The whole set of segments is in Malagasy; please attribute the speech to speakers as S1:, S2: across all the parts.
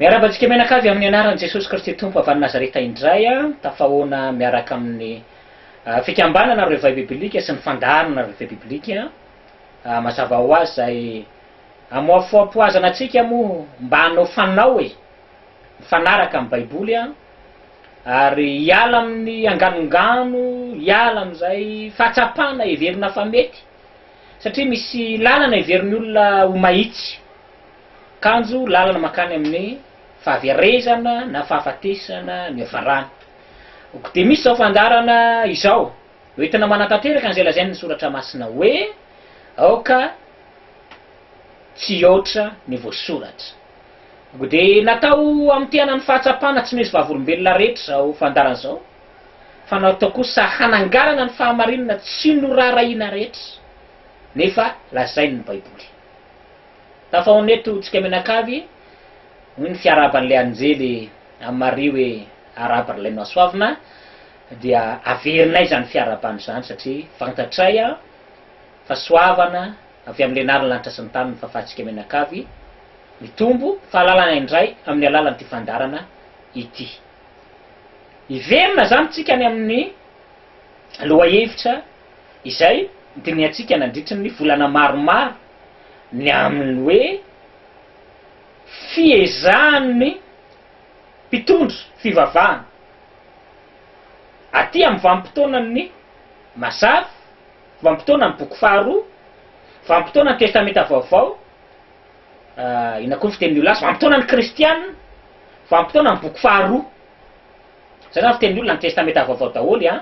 S1: Miarahaba antsika mianakavy amin'ny anaran'i Jesosy Kristy Tompo avy any Nazareta indray. Tafahoana miaraka amin'ny fikambanana Réveil Biblique sy ny fandaharana Réveil Biblique. Mazava ho azy izay. Amoafoampoazana antsika moa mba hanao fanao e! mifanaraka amin'ny baiboly an! ary hiala amin'ny anganongano, hiala amin'izay fahatsapana heverina fa mety, satria misy lalana heverin'ny olona ho mahitsy, kanjo lalana mankany amin'ny fahaverezana na fahafatesana no hiafarany. Ok, dia misy izao fandaharana izao. Hoentina manatanteraka an'izay lazain' ny Soratra Masina hoe, Aoka tsy hihoatra ny voasoratra. Dia natao hamotehana ny fahatsapana tsy misy vavolombelona rehetra izao fandaharana izao, fa natao kosa hananganana ny fahamarinana tsy noraharahiana rehetra, nefa lazain' ny Baiboly. Tafahaona eto tsika mianakavy, hoy ny fiarahaban'ilay anjely amin'i Maria hoe, Arabo ry Lain'ny Mahasoavina, dia averinay izany fiarahabana izany satria fantatray fa soavana avy amin'ny Lenarin'ny lanitra sy ny tany ny fahafahantsika mianakavy, mitombo ny fahalalana indray amin'ny alalan'ity fandaharana ity. Hiverina izany isika any amin'ny lohahevitra izay nodinihantsika nandritry ny volana maromaro, ny amin'ny hoe fiezahan'ny mpitondra fivavahana, Aty amin'ny vanim-potoanan'ny Mazava, vanim-potoanan'ny Boky faharoa, vanim-potoanan'ny Testamenta Vaovao, inona koa ny fitenin'io lasa, vanim-potoanan'ny Kristiana, vanim-potoanan'ny Boky faharoa. Izay izany fitenin'ny olona ny Testamenta Vaovao daholo an!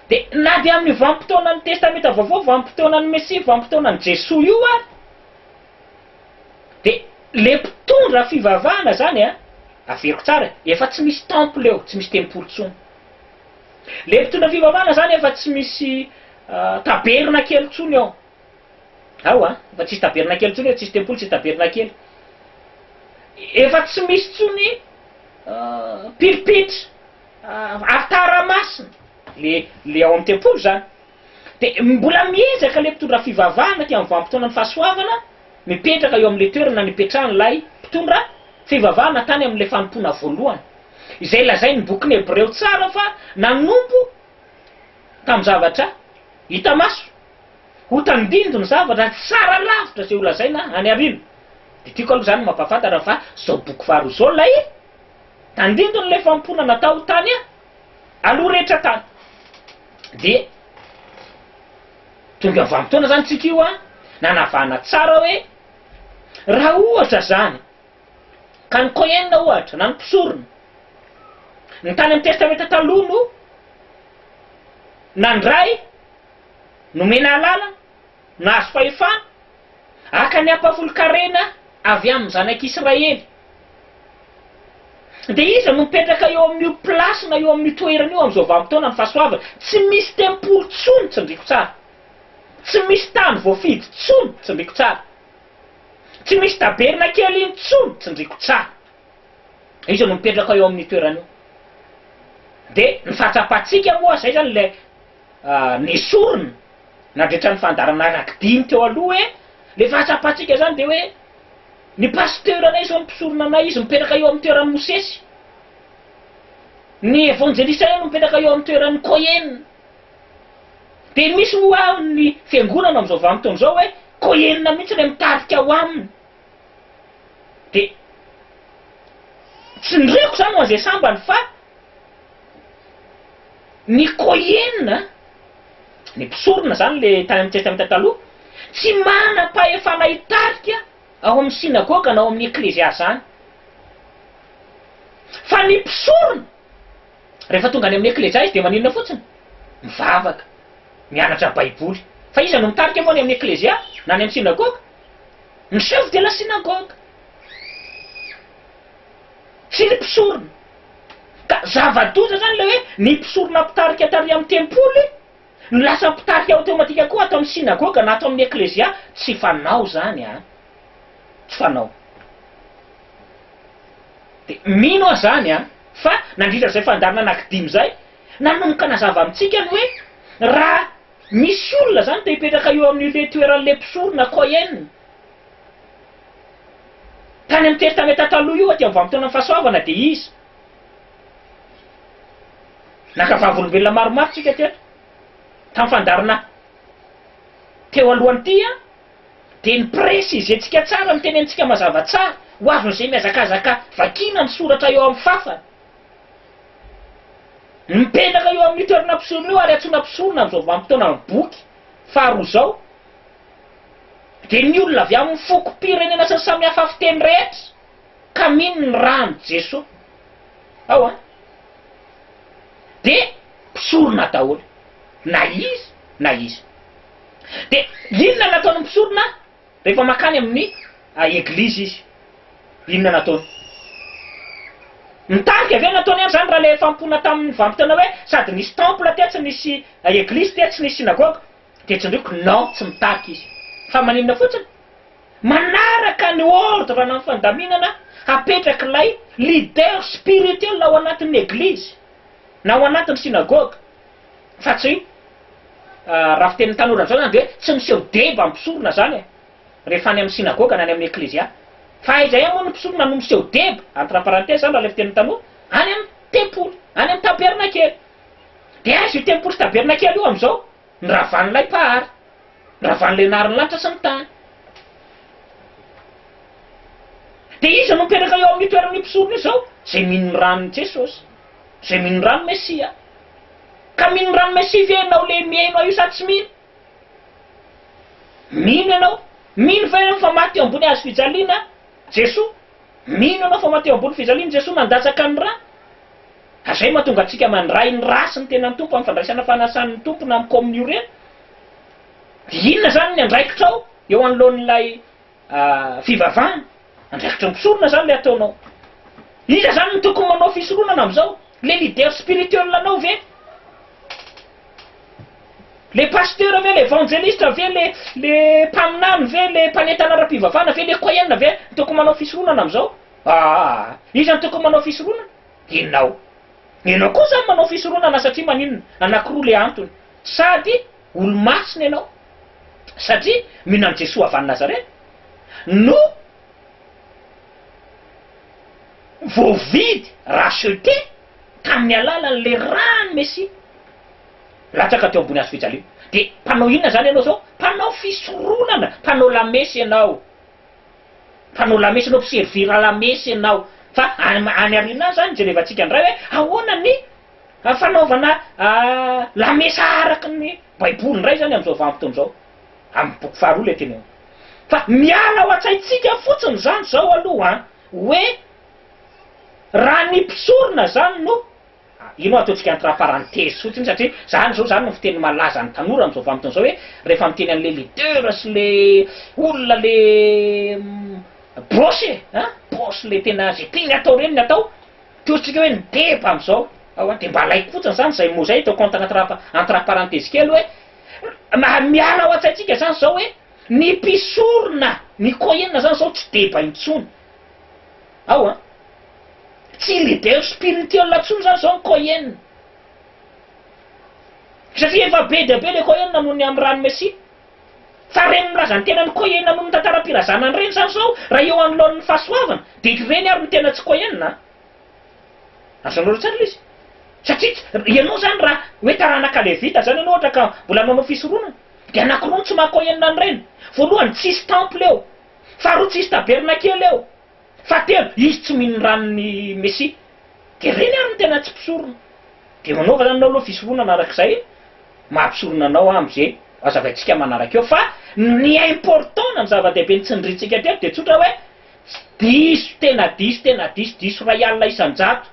S1: Dia na dia amin'io vanim-potoanan'ny Testamenta Vaovao, vanim-potoanan'ny Mesia, vanim-potoanan'i Jesoa io ary, De le mpitondra fivavahana zany a, averiko tsara e, efa tsy misy temple eo, tsy misy tempoly tsony. Le mpitondra fivavahana zany efa tsy misy tabernakely tsony eo. Ao a, efa tsisy tabernakely tsony eo, tsisy tempoly, tsisy tabernakely. Efa tsy misy tsony pilpitra, alitara masina, le le ao am tempoly zany. Dia mbola miezaka ilay mpitondra fivavahana aty amin'ny vanim-potoanan'ny fahasoavana mipetraka eo amin'ilay toerana nipetrahan'ilay mpitondra fivavahana tany amin'ilay fanompoana voalohany, izay lazain'ny bokin'ny Hebreo tsara fa nanompo tamin'ny zavatra hita maso. Ho tandindoy ny zavatra tsara lavitra izay holazaina any aoriana. Dia tiako aloha izany mampahafantatra fa izao boky faharoa izao ilay tandindon'ilay fanompoana natao tany aloha rehetra tany dia tonga vanim-potoana zany tsika io an, nanavahana tsara hoe raha ohatra zany ka ny Cohen ohatra na ny mpisorona ny tany amin'ny testamenta taloha no nandray, nomena alalana, nahazo fahefana, haka ny hampahafolon-karena avy amin'ny zanak'Israely. Dia iza no mipetraka eo amin'io place na eo amin'io toerana io amin'izao vanim-potoana ny fahasoavana? Tsy misy tempoly tsony, tsindriko tsara. Tsy misy tany voafidy tsony, tsindriko tsara. Tsy misy tabernakely intsony, tsindriko tsara. Iza no mipetraka eo amin'io toerana io? Dia ny fahatsapantsika moa izay izany ilay. nesorina nandritra ny fandaharana rakidiny teo aloha hoe le fahatsapantsika zany de hoe ny pasteur anay zao ny mpisorona anay izy mipetraka eo amin'ny toeran'i Mosesy, ny evanjelista anay no mipetraka eo amin'ny toeran'ny Cohen, de misy moa ny fiangonana amin'izao vanim-potoana izao hoe Cohen mihitsy le mitarika ao aminy, de tsindriako zany ho an'izay sambany fa. Ny Kohen, ny mpisorona izany le tany amin'ny Testamenta Taloha, tsy manam-pahefana hitarika ao amin'ny synagoga na ao amin'ny eklezia izany. Fa ny mpisorona, rehefa tonga any amin'ny eklezia izy dia maninona fotsiny? Mivavaka, mianatra Baiboly. Fa iza no mitarika moa any amin'ny eklezia na any amin'ny synagoga? Ny chef de la synagogue. Tsy ny mpisorona. Ka zava-doza izany ilay hoe ny mpisorona mpitarika tary amin'ny tempoly no lasa mpitarika aotomatika koa ato amin'ny synagoga na ato amin'ny eklezia. Tsy fanao izany an! Tsy fanao. Dia mino aho izany an! Fa nandritra izay fandaharana anankidimy izay, nanomboka nazava amintsika ny hoe raha misy olona izany te-hipetraka eo amin'ilay toeran'ilay mpisorona, kohen, Tany amin'ny Testamenta Taloha io, aty amin'ny vanim-potoanan'ny fahasoavana, dia iza? Naka vavolombelona maromaro tsika teto. Tamin'ny fandaharana teo alohan'ity an, dia ni-presize-tsika tsara, nitenenintsika mazava tsara, ho azon'izay mihazakazaka vakiana ny soratra eo amin'ny fàfana, ny mipetraka eo amin'io toerana mpisorona io ary antsoina mpisorona amin'izao vanim-potoanan'ny boky faharoa izao. dia ny olona avy amin'ny fokom-pirenena sy ny samihafa fiteny rehetra ka mino ny ran'i Jesoa ao an! dia mpisorona daholo na iza na iza. Dia inona no ataon'ny mpisorona rehefa mankany amin'ny eglizy izy? Inona no ataony? Mitarika ve ny ataony any izany raha ilay efa nipoana tamin'ny vanimpotoana hoe sady nisy temple tetsy, nisy eglizy tetsy, nisy synagogue? Dia tsindriako non tsy mitarika izy. Fa maninona fotsiny? Manaraka ny ordre ana ny fandaminana apetrak'ilay leader spirituel ao anatin'ny eglizy na ao anatin'ny synagogue fa tsy raha fitenin'ny tanora amin'izao izany dia tsy miseho deba ny mpisorona izany e! rehefa any amin'ny synagogue na any amin'ny eklezia. Fa aiza ihany moa ny mpisorona no miseho deba, entre parenthèses izany raha ilay fitenin'ny tanora, any amin'ny tempoly, any amin'ny tabernakely. Dia aiza io tempoly tabernakely io amin'izao? Ny ravan'ilay Mpahary. Ny ravan'ilay nahary ny lanitra sy ny tany. Dia iza no mipetraka eo amin'io toeran'io mpisorona io izao? Izay mino ny ran'i Jesosy. Izay mino ny ran'i Mesia. Ka mino ny ran'i Mesia ve ianao ilay mihaino ahy io sa tsy mino? Mino ianao. Mino ve ianao fa maty teo ambony hazo fijaliana Jesoa? Mino ianao fa maty teo ambony fijaliana Jesoa nandatsaka ny rany? Ka zay mahatonga antsika mandray ny rasin'ny tenan'ny Tompo amin'ny fandraisana fanasan'ny Tompo na amin'ny Komonio reny. Dia inona izany ny andraikitrao eo anoloan'ilay fivavahana? Andraikitry ny mpisorona izany ilay ataonao. Iza izany no tokony manao fisoronana amin'izao? Ilay leader spirituel anao ve? Ilay pasteur ve? Ilay evangeliste ve? Ilay mpaminany ve? Ilay mpanentana ara-pivavahana ve? Ilay kohen ve no tokony manao fisoronana amin'izao? Aa! Iza no tokony manao fisoronana? enao. Enao koa zany manao fisoronana satria maninona? Anakiroa le antony, sady olomasina enao satria mino an'i Jesoa avy any Nazareth no voavidy, rachetée, tamin'ny alalan'le ran'ny Mesia latsaka teo ambony hazo fijaliana. De mpanao inona zany enao zao? Mpanao fisoronana, mpanao lamesa enao. Mpanao lamesa anao, mpiservira lamesa ianao. Fa any aoriana any izany no jerevantsika indray hoe ahoana ny fanaovana lamesa araka ny Baiboly indray izany amin'izao vanim-potoana izao. Amin'ny boky faharoa ilay teny ao. Fa miala ao an-tsaintsika fotsiny izany izao aloha hoe raha ny mpisorona izany no. Io no ataontsika entre parenthèses fotsiny satria zany zao zany no fiteny malaza an'ny tanora amin'izao vanim-potoana izao hoe rehefa miteny an'ilay leader sy le olona le boss e! a! boss le tena ze tiany atao reny ny atao toy isika hoe ny deba amin'izao ao a! dia mba alaiko fotsiny zany zay mot zay ataoko entre entre entre parenthèses kely hoe mba miala ao an-tsaintsika zany zao hoe ny mpisorona ny coin zany zao tsy deba intsony. ao an! Tsy leader spirituel intsony izany izao ny Cohen. Satria efa be dia be ilay Cohen noho ny Amran Messi. Fa ireny milaza ny tenany Cohen noho ny tantaram-pirazanany ireny izany izao raha eo anoloan'ny fahasoavana dia ireny ary no tena tsy Cohen an! Azonareo tsara ilay izy? Satria ianao izany raha hoe taranaka Levita izany ianao ohatra ka mbola manao fisoronana dia anankiroa no tsy maha Cohen an'ireny. Voalohany, tsisy temple eo. Faharoa, tsisy tabernakely eo. Fahatelo, izy tsy mino ny ran'ny Mesia. Dia ireny ary no tena tsy mpisorona. Dia manaova izany ianao aloha fisoronana arak'izay maha mpisorona anao aho amin'izay hazavaintsika manaraka eo. Fa ny important na ny zava-dehibe nitsindrintsika teto dia tsotra hoe, diso, tena diso, tena diso, diso iray alina isan-jato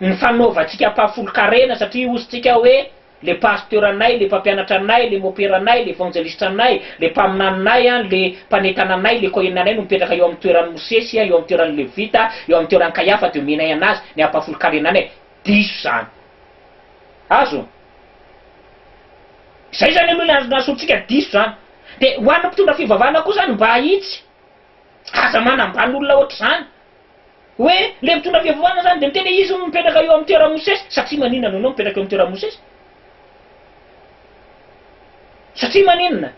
S1: ny fanaovantsika mpahafolon-karena satria hozy-tsika hoe, le pasteranay, le mpampianatra anay, le moperanay, le evanjelistranay, le mpaminaninay, le mpanentana anay, le koheninanay no mipetraka eo amin'ny toeran'i Mosesy, eo amin'ny toeran'ny Levita, eo amin'ny toeran'i Kaiafa, dia omenay an'azy ny hampahafolon-karenanay. Diso izany. Azo? Izay izany aloha ilay azon'ny antsointsika diso izany. Dia ho an'ny mpitondra fivavahana koa izany mba hahitsy. Aza manambany olona hoatr'izany. Hoe ilay mitondra fiavovana izany dia miteny hoe izy hono no mipetraka eo amin'ny toeran'i Mosesy, satria maninona no ianao mipetraka eo amin'ny toeran'i Mosesy? Satria maninona?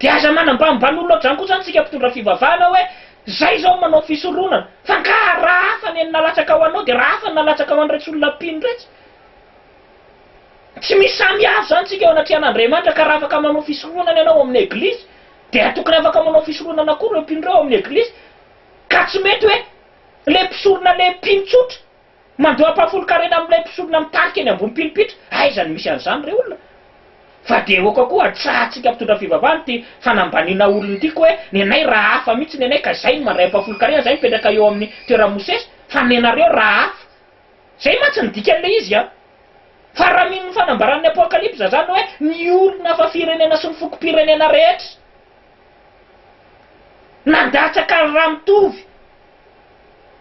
S1: Dia aza manambany balolona aoka izany koa izany isika mpitondra fivavahana hoe izay izao no manao fisoronana, fa angaha raha hafa ny nalatsaka ho anao dia raha hafa ny nalatsaka ho an'iretsy olona mpino iretsy? Tsy misy samihafa izany isika eo anatrehan'Andriamanitra ka raha afaka manao fisoronana ianao ao amin'ny Eglizy Dia atokana afaka manao fisoronana koa ireo mpino ireo ao amin'ny Eglizy, ka tsy mety hoe ilay mpisorona ilay mpino tsotra mandoa ampahafolon-karena amin'ilay mpisorona mitarika eny ambony mpino mpitra, aiza no misy an'izany ry olona? Fa dia aoka koa hatsahantsika mpitondra fivavahana ity fanambaniana olona ity koa hoe ny anay raha hafa mihitsy ny anay ka izay no mandray ampahafolon-karena, izay mipetraka eo amin'ny toeran'i Mosesy, fa ny anareo raha hafa. Izay mantsy ny dikan'ilay izy an! Fa raha mino ny fanambaran'ny Apokalypsa izany hoe ny olona fa firenena sy ny fokom-pirenena rehetra nandatsaka ny raha mitovy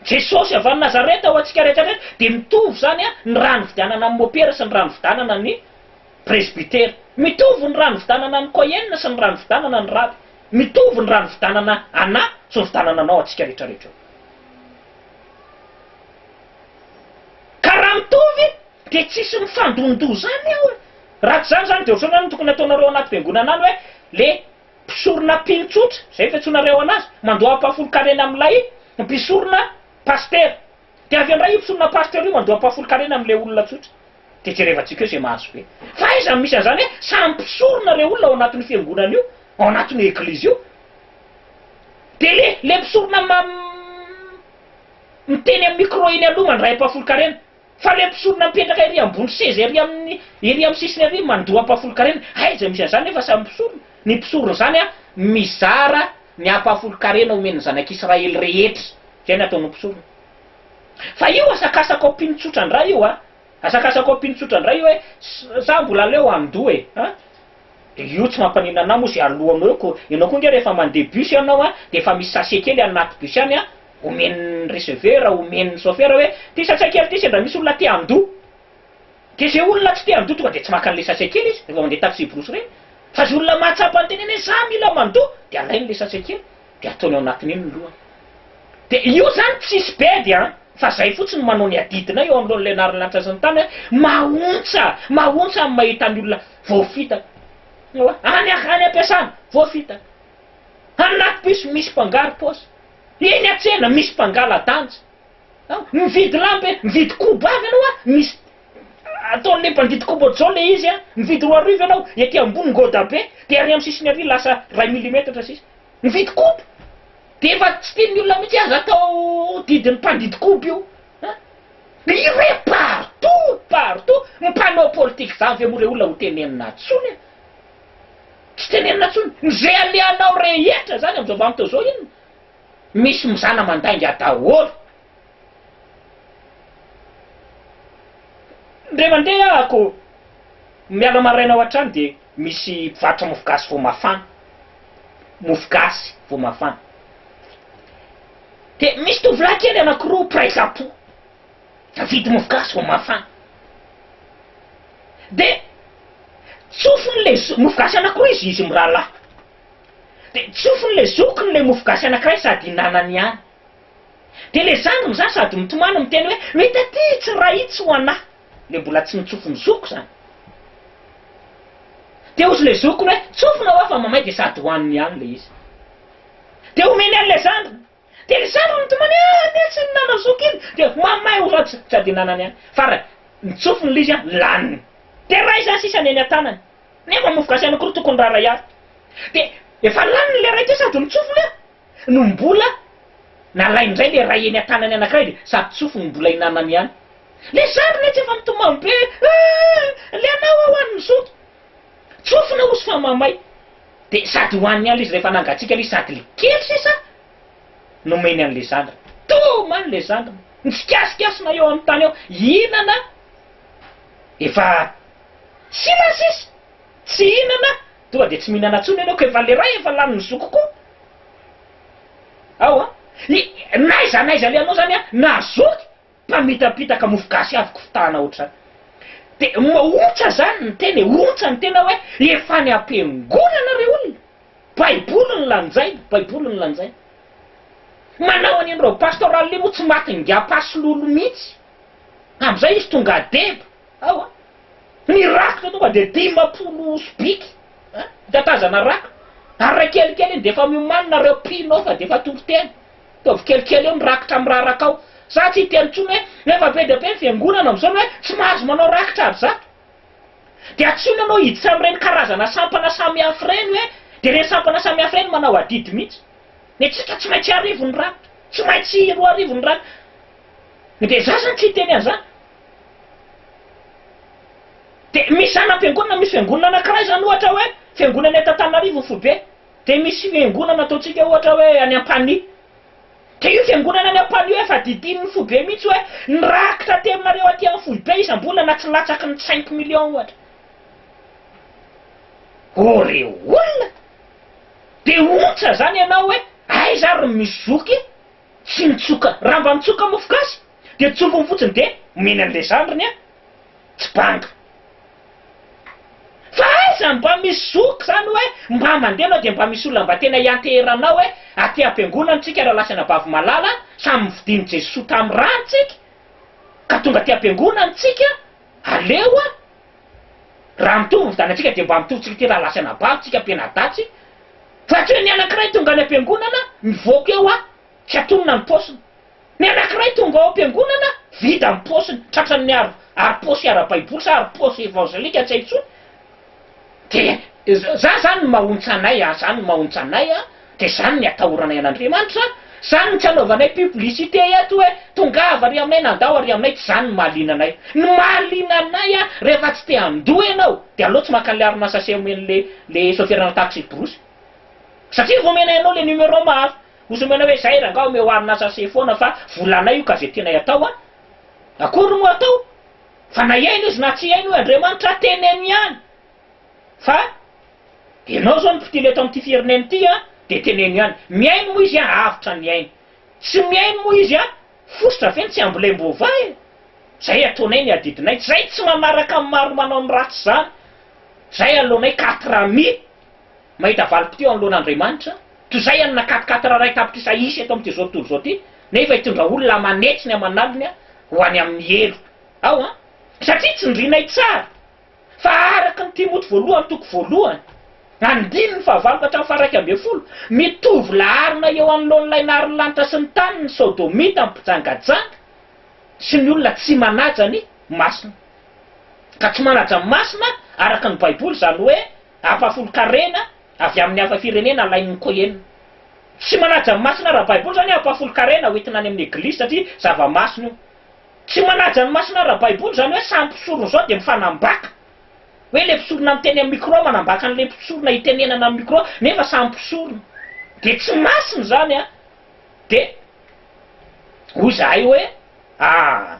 S1: Jesosy avy any Nazareta ho antsika rehetra rehetra dia mitovy izany an ny raha nividanana ny mopera sy ny raha nividanana ny presbytera. Mitovy ny raha nividanana ny kohen sy ny raha nividanana ny raby. Mitovy ny raha nividanana anah sy nividanana anao antsika rehetra rehetra eo. Ka raha mitovy dia tsisy mifandondoha zany ao e! Raha tsy zany zany dia ohatran'ny hoe ny tokony ataonareo anaty fiangonana any hoe le mpisorona mpino tsotra, zay fiantsoanareo anazy, mandoa ampahafolon-karena amin'ilay mpisorona pasitera. Dia avy eo ndray io mpisorona pasteur io mandoa ampahafolon-karena amin'ilay olona tsotra. Dia jerevantsika eo zay mahazo be. Fa aiza no misy an'izany hoe samy mpisorona reo olona ao anatin'io fiangonana io, ao anatin'io eglizy io. Dia le le mpisorona Miteny amin'ny micro eny aloha mandray ampahafolon-karena, fa ireo mpisorona mipetraka ery ambony seza ery amin'ny ery amin'ny sisiny ery mandoa ampahafolon-karena, aiza misy an'izany nefa samy mpisorona? Ny mpisorona izany an, mizara ny ampahafolon-karena omen'ny zanak'Israely rehetra, izay no ataon'ny mpisorona. Fa io asakasakao mpino tsotra indray io an, asakasakao mpino tsotra indray io hoe za mbola aleo handoa e an, io tsy mampaninona anah moa izay aloanao eo ko, ianao koa ange rehefa mandeha bus ianao an, dia efa misy sachet kely anaty bus any an, omen'ny receveur, omen'ny chauffeur hoe ty sachet kely ty sendra misy olona te handoa, dia izay olona tsy te handoa tonga dia tsy maka an'ilay sachet kely izy, rehefa mandeha taxi brousse ireny, fa izay olona mahatsapa ny tenany hoe za mila mandoa dia alainy ilay sachet kely dia ataony ao anatin'iny ny lohany. Dia io izany tsisy bedy an! fa izay fotsiny no manao ny adidinay eo anoloan'ilay anaran'ny lanitra sy ny tany hoe mahontsa, mahontsa ny mahita ny olona voafitaka any am-piasana, voafitaka any anaty bus misy mpangaro-paosy, Eny an-tsena misy mpangala-danja an! Mividy lamba e! Mividy koba avy ianao an! Misy ataon'ilay mpandidy koba ohatr'izao ilay izy an! Mividy roa arivo ianao, ety ambony ngoda be, dia ary amin'ny sisiny ary lasa iray milimetatra sisa. Mividy koba! Dia efa tsy tian'ny olona mihitsy aza atao didin'ny mpandidy koba io an! Dia ireny partout! Partout! Mpanao politika izany ve moa ireo olona ho tenenina intsony e! Tsy tenenina tsony. Ny ze alehanao rehetra zany amzao vanimtao zao inona? Misy mizana mandainga daholo. Ndre mandeha ah ko miala maraina ao antrano de misy mpivarotra mofo gasy vo mafana. Mofo gasy vo mafana. De misy tovolahy kely anakiroa mpiray zampo. Tadidy mofo gasy vao mafana. De tsofiny le zo-, mofo gasy anakiroa izy izy mirahalahy. De tsofiny le zokiny le mofo gasy anakiray sady hinanany ihany. De le zandriny zany sady mitomany miteny hoe, hoe taty tsy raha itsy ho anahy. Le mbola tsy nitsofy ny zoko zany. De hozy le zokiny hoe, tsofinao aho fa mamay de sady hohaniny ihany le izy. De omeny anle zandriny. Dia ny sarony tomany any a, tsy nanao zoky iny, dia mamay ho ratsy ny jadinanany any. Farany, ny tsofiny l'izy a, laniny. Dia ray zany sisa ny eny an-tanany. Nefa mofogasy ihany akory tokony raha ray azy. Dia efa laniny le ray teo sady ny tsofiny a, no mbola nalainy indray le ray eny an-tanany anankiray dia sady tsofiny no mbola hinanany ihany. Le sarony etsy efa mitomany be, Aah! Le anao ho'an'ny zoky! Tsofina osy fa mamay. Dia sady hohaniny ihany le izy rehefa nangatsiaka le izy sady le kely sisa nomeny an'le zandriny. Toa mailo le zandriny. Nitsikasikasikna eo amin'ny tany eo hihinana efa tsy lany sisa. Tsy hihinana tonga dia tsy mihinana intsony enao koa efa le ray efa lanin'ny zoky koa ao an. N'aiza n'aiza le anao zany an nahazoto. mpamitapitaka mofo gasy avy kofitana otrany de ontsa zany ny tena e ontsa ny tena hoe efa any ampiangonana re olona baiboly no lanjaina baiboly no lanjaina manao an'iny reo pastoral iny moa tsy maty ngapasy lolo mitsy amzay izy tonga deba ao a ny rako de tonga de dimapolo sobiky a tatazana rako ary ra kelikely iny de efa miomanina reo mpino ao fa de efa toriteny Ataovy kelikely eo ny rakitra amin'ny rarakao. Za tsy hiteny intsony hoe efa be dia be ny fiangonana amin'izao ny hoe tsy mahazo manao rakitra ary zato. Dia antsoina ianao hiditra amin'ireny karazana sampana samihafa ireny hoe dia ireny sampana samihafa ireny manao adidy mihitsy. Ny antsika tsy maintsy arivo ny rakitra, tsy maintsy roa arivo ny rakitra. Dia za izany tsy hiteny an'izany. Dia misy zana-piangonana, misy fiangonana anankiray izany ohatra hoe fiangonana eto Antananarivo ny foibe. Dia misy fiangonana ataontsika ohatra hoe any Ampanihy. Dia io fiangonana any Ampanihy io efa didinin'ny foibe mihitsy hoe ny rakitra aterinareo aty amin'ny foibe isam-bolana na tsy latsaky ny cinq millions ohatra. Oh ry olona! Dia ontsa izany ianao hoe aiza ary ny misy zoky e! Tsy nitsoka. Raha mba nitsoka mofo gasy dia tsompiny fotsiny dia omeny an'ilay zandriny an! tsy banga. Fa aiza no mba misy zoky izany hoe mba mandeha ianao dia mba misy olona mba tena hianteheranao hoe aty am-piangonana isika Ralasana Bavimalala samy novidian'i Jesoa tamin'ny rany isika ka tonga aty am-piangonana isika aleo a raha mitovy ny fidanantsika dia mba mitovy isika aty Ralasana Bavy isika mpianadatsy fa tsy hoe ny anankiray tonga any am-piangonana mivoaka eo a tsy atonina ny paosiny. Ny anankiray tonga ao am-piangonana, vida ny paosiny, tratran'ny ar, ari-paosy ara-baiboly sa ari-paosy evangelika tsy hay intsony, dia za zany no mahontsa anay a, zany no mahontsa anay a, dia zany ny atahoranay an'Andriamanitra a, zany no tsy anaovanay publicité eto hoe tongava ary aminay nandao ary aminay tsy zany no mahaliana anay. Ny mahaliana anay a, rehefa tsy te handoa ianao, dia aleo tsy maka an'ilay harona sachet omen'ilay ilay soferana taxi borosy, satria efa omenay anao ilay numéro maro, Ozy omena hoe zay rangah omeo harina sase foana fa vola anay io ka ze tianay atao an! Akory no atao fa na hiaina izy na tsy hiaina hoy Andriamanitra teneno ihany fa enao zao ny mpitily eto amty firenena ity an de teneno ihany mihaino moa izy an avotra ny ainy tsy mihaino moa izy an fositra ve ny tsy ambolemboava e! Zay ataonay ny adidinay zay tsy manaraka ny maro manao ny ratsy zany zay aloanay quatre amis Mahita valim-potoa eo anoloan' Andriamanitra, toy izay an'ny nakatikaty raray tapitrisa hisy eto amin'ity izao tontolo izao ity, nefa hitondra olona hamanetsy ny aman'aliny ho any amin'ny heloka. Ao an! Satria tsindrinay tsara fa araka ny Timoty voalohany toko voalohany, andininy fahavalo ka hatramin'ny faha-iraika ambin'ny folo, mitovy laharana eo anoloan'ilay naharin'ny lanitra sy ny tany ny Sodomita, ny mpijangajanga, sy ny olona tsy manaja ny masina. Ka tsy manaja ny masina araka ny Baiboly, izany hoe, Ampahafolon-karena avy amin'ny hafa firenena alain'ny Cohen. Tsy manaja ny masina ara-baiboly izany hoe ampahafolon-karena ho entina any amin'ny eglizy satria zava-masina io. Tsy manaja ny masina ara-baiboly izany hoe samy mpisorona izao dia mifanambaka. Hoe ilay mpisorona miteny amin'ny micro manambaka an'ilay mpisorona itenenana amin'ny micro nefa samy mpisorona. Dia tsy masina izany an! Dia hoy izahay hoe, Ah!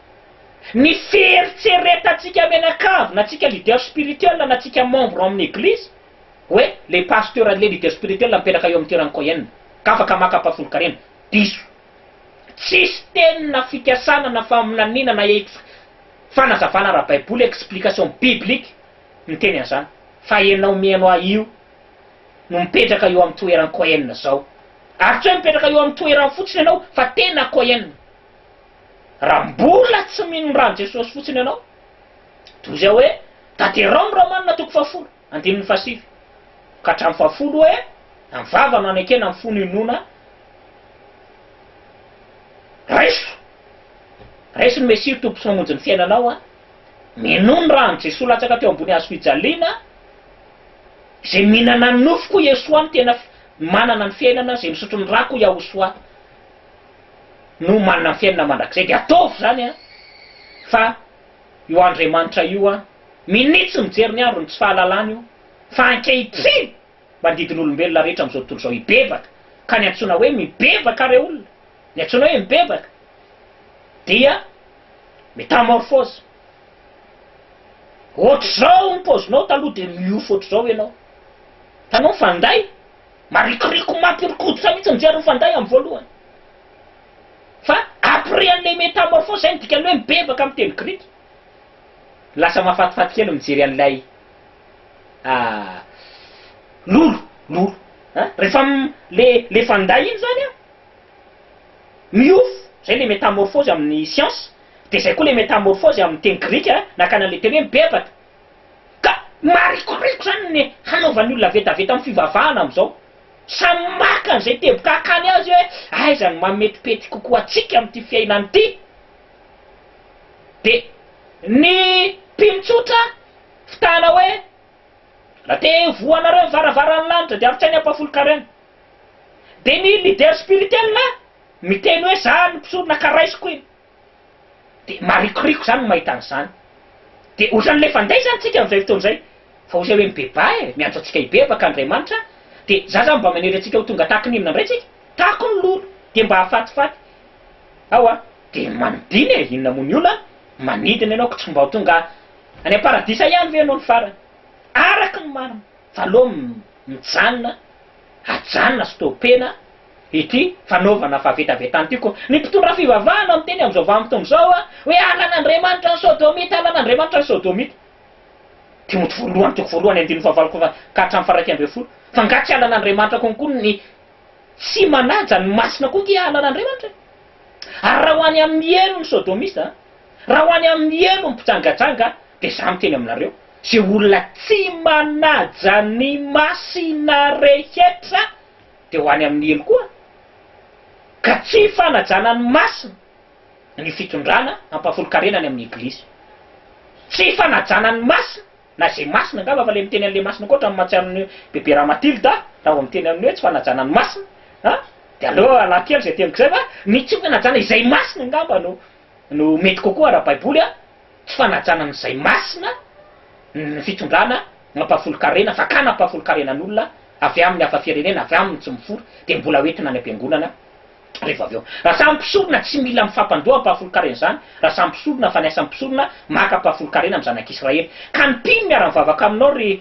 S1: Ny fieritreretantsika mianakavy na tsika leader spirituel na tsika membre ao amin'ny eglizy hoe le pasteur le leader spirituel mipetraka eo amin'ny toeran'i Cohen ka afaka maka ampahafolon-karena. Diso. Tsisy teny na fikasana na faminaniana na ex fanazavana ara-baiboly, explication biblique, miteny an'izany. Fa ianao mihaino ahy io no mipetraka eo amin'ny toeran'i Cohen zao. Ary tsy hoe mipetraka eo amin'ny toerany fotsiny ianao fa tena Cohen. Raha mbola tsy mino ny ran'i Jesosy fotsiny ianao, toy izay hoe tanterao ny Romana toko fahafolo, andininy fahasivy ka hatramin'ny fahafolo hoe, Na ny vava no anekena ny fo no inoana, raiso! Raiso ny Mesia ho Tompo sy Mpamonjy ny fiainanao an! Minoa ny ran'i Jesosy latsaka teo ambony hazo fijaliana, Izay mihinana ny nofoko Yeshua no tena manana ny fiainana, izay misotro ny rako Yahushua. no manana ny fiainana mandrakizay dia ataovy izany an! fa io Andriamanitra io an! minitsy mijery ny andron'ny tsy fahalalana io fa ankehitriny manodidin'olombelona rehetra amin'izao tontolo izao hibebaka ka ny antsoina hoe mibebaka re olona ny antsoina hoe mibebaka dia metamorphose ohatr'izao ny paozinao taloha dia miofo ohatr'izao ianao hitanao ny fanday? Marikoriko maty ry koditra mihitsy mijery ny fanday amin'ny voalohany. Fa après an'ilay métamorphose izay no dikan'ny hoe mibebaka amin'ny teny grika. Lasa mahafatifaty kely mijery an'ilay lolo, lolo an! Rehefa le le fanday iny izany an, miofo, izay ilay métamorphose amin'ny siansa, dia izay koa ilay métamorphose amin'ny teny grika nankany an'ilay teny hoe mibebaka. Ka marikoriko izany ny hanaovan'ny olona vetaveta amin'ny fivavahana amin'izao. Samy maka an'izay teboka akany azy hoe aiza no mahametipety kokoa antsika amin'ity fiainana ity. Dia ny mpino tsotra fitahana hoe raha te hivohanareo ny varavaran'ny lanitra dia arotsainy ampahafolon-karena. Dia ny leader spirituel miteny hoe za no mpisorona ka raisiko iny. Dia marikoriko izany ny mahita an'izany. Dia ohatran'ny ilay fanday izany tsika amin'izay fotoana izay. Fa ozy hay hoe mibebà e, miantso antsika hibebaka Andriamanitra. Dia za izany mba manery antsika ho tonga tahaka ny inona indray tsika? Tahako ny lolo, dia mba hafatifaty. Ao a! Dia manodina e, inona moa ny olana? Manidina ianao ko tsy mba ho tonga any am-paradisa ihany ve ianao ny farany? Araka ny marina, fa aleo mijanona, ajanona, stopena. ity fanaovana fahavetavetana ity koa ny mpitondra fivavahana miteny amin'izao vanim-potoana izao hoe halan'Andriamanitra ny Sodomita, halan'Andriamanitra ny Sodomita. Timoty voalohany toko voalohany andininy fahavalo ka hatramin'ny faharaika ambin'ny folo. Fa nga tsy halan'Andriamanitra konkoa ny tsy manaja ny masina koa ange halan'Andriamanitra e? Ary raha ho any amin'ny helo ny Sodomista, raha ho any amin'ny helo ny mpijangajanga dia za miteny aminareo, ze olona tsy manaja ny masina rehetra, dia ho any amin'ny helo koa, ka tsy fanajana ny masina ny fitondrana hampahafolon-karena any amin'ny eglizy. Tsy fanajana ny masina, na izay masina, angamba fa ilay miteny an'ilay masina koa ohatran'ny mahatsiaro an'i Bebe Ramatilda aho, raha vao miteny amin'ny hoe tsy fanajana ny masina an! dia aleo alako kely izay teniko izay fa ny tsy fanajana izay masina angamba no no mety kokoa ara-baiboly an! Tsy fanajana an'izay masina ny fitondrana mampahafolon-karena fa ka nampahafolon-karenan'olona avy amin'ny hafa firenena, avy aminy tsy mifory dia mbola ho entina any am-piangonana revo avy eo. Raha samy mpisorona tsy mila mifampandoa ampahafolon-karena izany, raha samy mpisorona fa ny asan'ny mpisorona maka ampahafolon-karena amin'ny zanak'Israely. Ka ny mpino miara-mivavaka aminao ry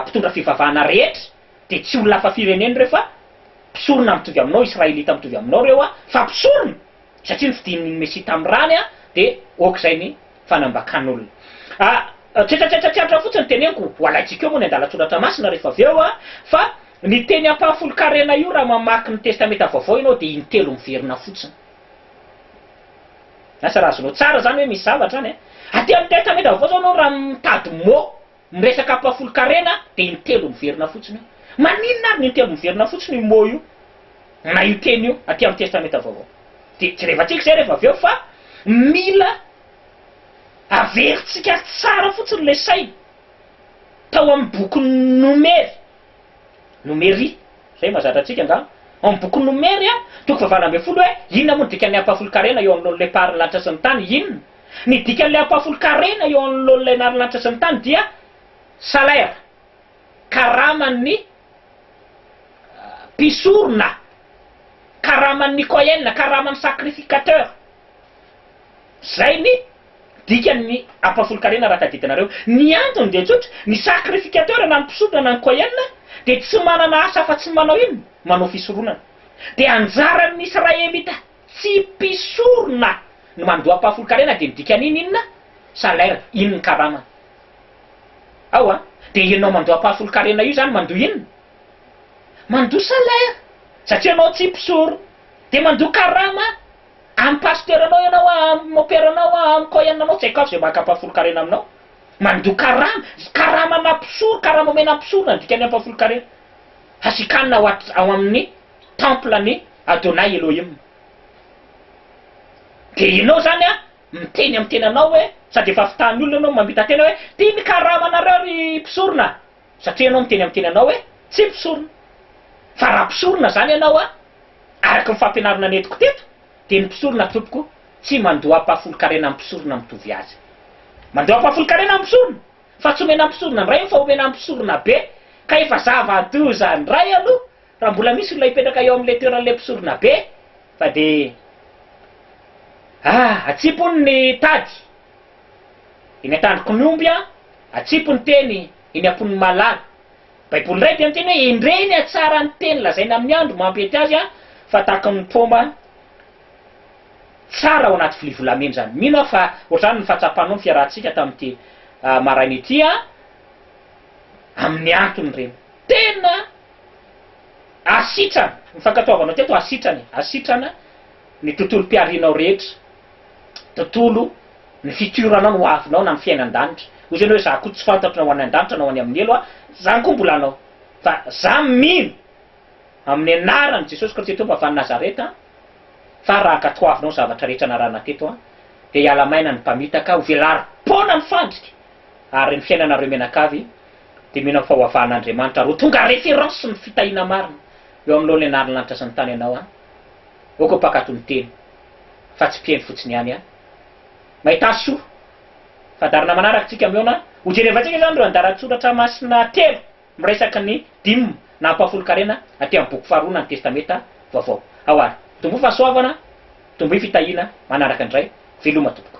S1: mpitondra fivavahana rehetra dia tsy olona hafa firenena ireo fa mpisorona mitovy aminao, Israelita mitovy aminao ireo fa mpisorona! satria ny fidin'ny Mesia tamin'ny rany dia aok'izay ny fanambakan'olona. Tsetsatsetsa tsy antra fotsiny teneniko, ho alaintsika eo moa ny andalan-tsoratra masina rehefa avy eo, fa ny teny ampahafolon-karena io raha mamaky ny Testamenta Vaovao ianao dia intelo miverina fotsiny. Asa raha azonao tsara izany hoe misy zavatra any. Aty amin'ny Testamenta Vaovao izao ianao raha mitady mot Ny resaka ampahafolon-karena dia intelo miverina fotsiny io. Maninona ary no intelo miverina fotsiny io mot io na io teny io aty amin'ny Testamenta Vaovao? Dia jerevantsika izay rehefa avy eo fa mila averintsika tsara fotsiny ilay saina tao amin'ny bokin'ny Nomery, Nomery, izay mahazatra antsika angamba, ao amin'ny bokin'ny Nomery, toko fahavalo ambin'ny folo hoe inona moa no dikan'ny ampahafolon-karena eo anoloan'ilay Mpaharin'ny lanitra sy ny tany? Inona? Ny dikan'ilay ampahafolon-karena eo anoloan'ilay narilanitra sy ny tany dia salaire, karaman'ny mpisorona, karaman'ny kohen, karaman'ny sacrificateur. Izay ny dikan'ny ampahafolon-karena raha tadidina ireo. Ny antony dia tsotra, ny sacrificateur na ny mpisorona na ny kohen dia tsy manana asa afa-tsy ny manao inona? Manao fisoronana. Dia anjaran'ny Israelita Tsy mpisorona no mandoampahafolon-karena dia midika an'iny inona? Salaire, iny ny karamany. Ao an! Dia ianao mandoampahafolon-karena io izany mandoa inona? Mandoa salaire! Satria ianao tsy mpisorona. Dia mandoa karama amin'ny pasiteuranao ianao, amin'ny moperanao, amin'ny coin anao, tsy haiko avy izay maka ampahafolon-karena aminao. Mandoa karama! Karamana mpisoro, karama omena ny mpisorona no dikan'ny ampahafolon-karena. Hasikanina ao amin'ny. temple an'i Adonai Elohim. Dia ianao izany an, miteny amin'ny tenanao hoe, sady efa avitahan'ny olona ianao mamita-tena hoe, ty ny karama anareo ry mpisorona a! satria ianao miteny amin'ny tenanao hoe, tsy mpisorona. Fa raha mpisorona izany ianao an, araka ny fampianarana nentiko teto, dia ny mpisorona tompoko tsy mandoam-pahafolon-karena amin'ny mpisorona mitovy azy. Mandoam-pahafolon-karena amin'ny mpisorona, fa tsy omena mpisorona indray io fa omena mpisorona be, ka efa zava-doza indray aloha Raha mbola misy olona hipetraka eo amin'ilay toeran'ilay mpisoronabe fa dia ah atsipony ny tady eny an-tandroky ny omby an, atsipy ny teny eny am-pon'ny malala. Baiboly indray dia miteny hoe endrey ny hatsaran'ny teny lazaina amin'ny andro mampety azy an, fa tahaka ny paoma tsara ao anaty vilia volamena izany. Mino aho fa ohatr'izany ny fahatsapanao ny fiarahantsika tamin'ity maraina ity an, amin'ny antony ireny. Tena. Asitrana, ny fankatoavanao teto asitrana e, asitrana ny tontolom-piharianao rehetra, tontolo ny futur nao ny ho avinao na ny fiaina an-danitra, hoy izany hoe za koa tsy fantatro na ho any an-danitra na ho any amin'ny helo aho, zany koa mbola anao, fa za mino amin'ny anaran'i Jesosy Kristy Tompo avy any Nazareta fa raha ankatoavinao ny zavatra rehetra narahana teto dia hiala maina ny mpamitaka, ho velarim-poana ny fandrika ary ny fiainanareo mianakavy Dia mino amin'ny fahoavahana Andriamanitra ary ho tonga référence ny fitahiana marina eo anoloan'ny anarin'ny lanitra sy ny tany ianao an! Aoka ho mpankatò ny teny fa tsy mpihaino fotsiny ihany an! Mahita soa! Fandaharana manaraka tsika mihaona, ho jerevantsika izany ireo andaran-tsoratra masina telo miresaky ny Dime na ampahafolon-karena aty amin'ny boky faharoa na ny Testamenta vaovao. Ao ary! Tomboy fahasoavana, tomboy fitahiana, manaraka indray, veloma tompoko.